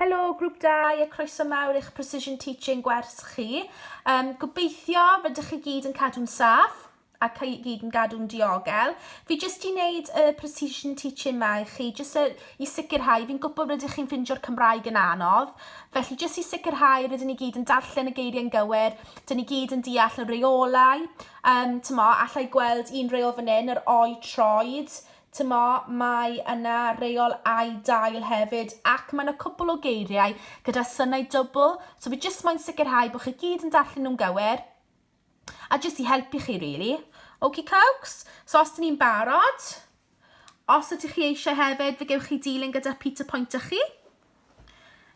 Helo Grŵp Dau a croeso mawr i'ch Precision Teaching gwers chi. Um, gobeithio rydych chi gyd yn cadw'n saff a chi gyd yn gadw'n diogel. Fi jyst i wneud y Precision Teaching ma i chi, jyst er, i sicrhau, fi'n gwybod rydych chi'n ffindio'r Cymraeg yn anodd, felly jyst i sicrhau rydyn ni gyd yn darllen y geiriau'n gywir, dyn ni gyd yn deall y reolau, um, tymo, allai gweld un reol fan hyn, yr o'i troed, Timo, Mae yna reol ai dail hefyd, ac mae 'na cwpl o geiriau gyda synau dwbl, so fi jyst moyn sicrhau bod chi gyd yn darllen nhw'n gywir, a jyst i helpu chi really. Okie cokes? So os dyn ni'n barod, os ydych chi eisiau hefyd, fe gewch chi dilyn gyda Peter Point â chi.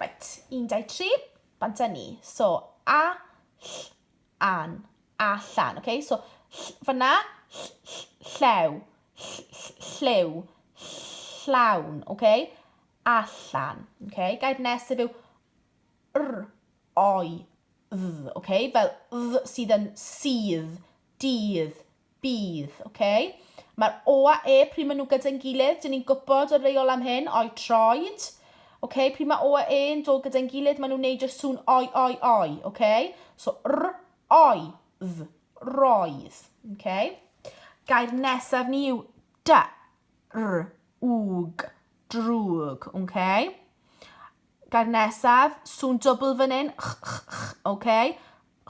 Right, 1, 2, 3, bant â ni. So, a, ll, an, allan, ok? So, ll, fanna, ll, ll, llew, ll, ll, lliw, llawn, ok? Allan, ok? Gair nesaf yw r, oi, dd, ok? Fel dd sydd yn sydd, dydd, Bydd, ok. Mae'r O a E, pryd maen nhw gyda'n gilydd, dyn ni'n gwybod o'r reol am hyn, oi troed. Ok, pryd mae O a E yn dod gyda'n gilydd, maen nhw'n neidio sŵn oi, oi, oi. Ok, so r, oi, dd, roedd. Ok. Gair nesaf ni yw d, r, wg, drwg. Ok. Gair nesaf, sŵn dwbl fan hyn, ch, ch, ch. Ok.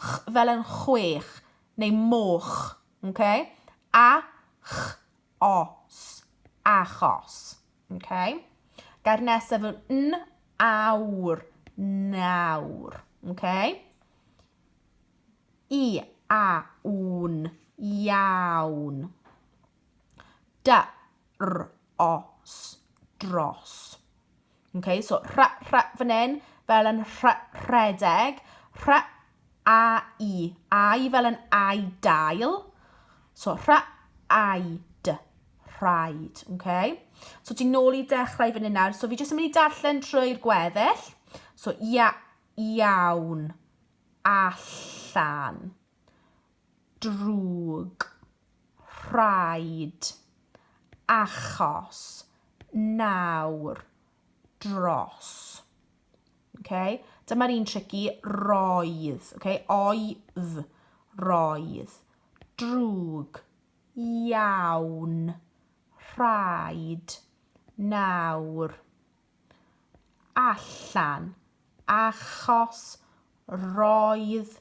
Ch, fel yn chwech. neu moch, ok? A ch os, achos, ok? Gair nesaf yw n awr, nawr, ok? I a wn, iawn, Da, r, os, dros. Okay, so rha, rha fan hyn, fel yn rha, rhedeg. Rha, a, i. A, i fel yn ai dail. So rha, ai, d, rhaid. Okay? So ti'n nôl i dechrau fan hyn nawr. So fi jyst yn mynd i darllen trwy'r gweddill. So ia, iawn, allan. drwg, rhaid, achos, nawr, dros. Okay? Dyma'r un tricky, roedd, okay? oedd, roedd, drwg, iawn, rhaid, nawr, allan achos roedd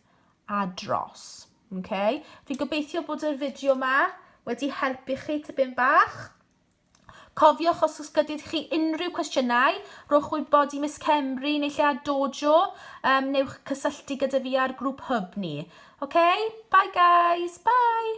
a dros. Okay? Fi'n gobeithio bod yr fideo yma wedi helpu chi tipyn bach. Cofiwch os oes gyda chi unrhyw cwestiynau, rhowch wybod i Miss Cemru neu lle a Dojo, um, newch cysylltu gyda fi ar grŵp hub ni. Okay? Bye guys, bye!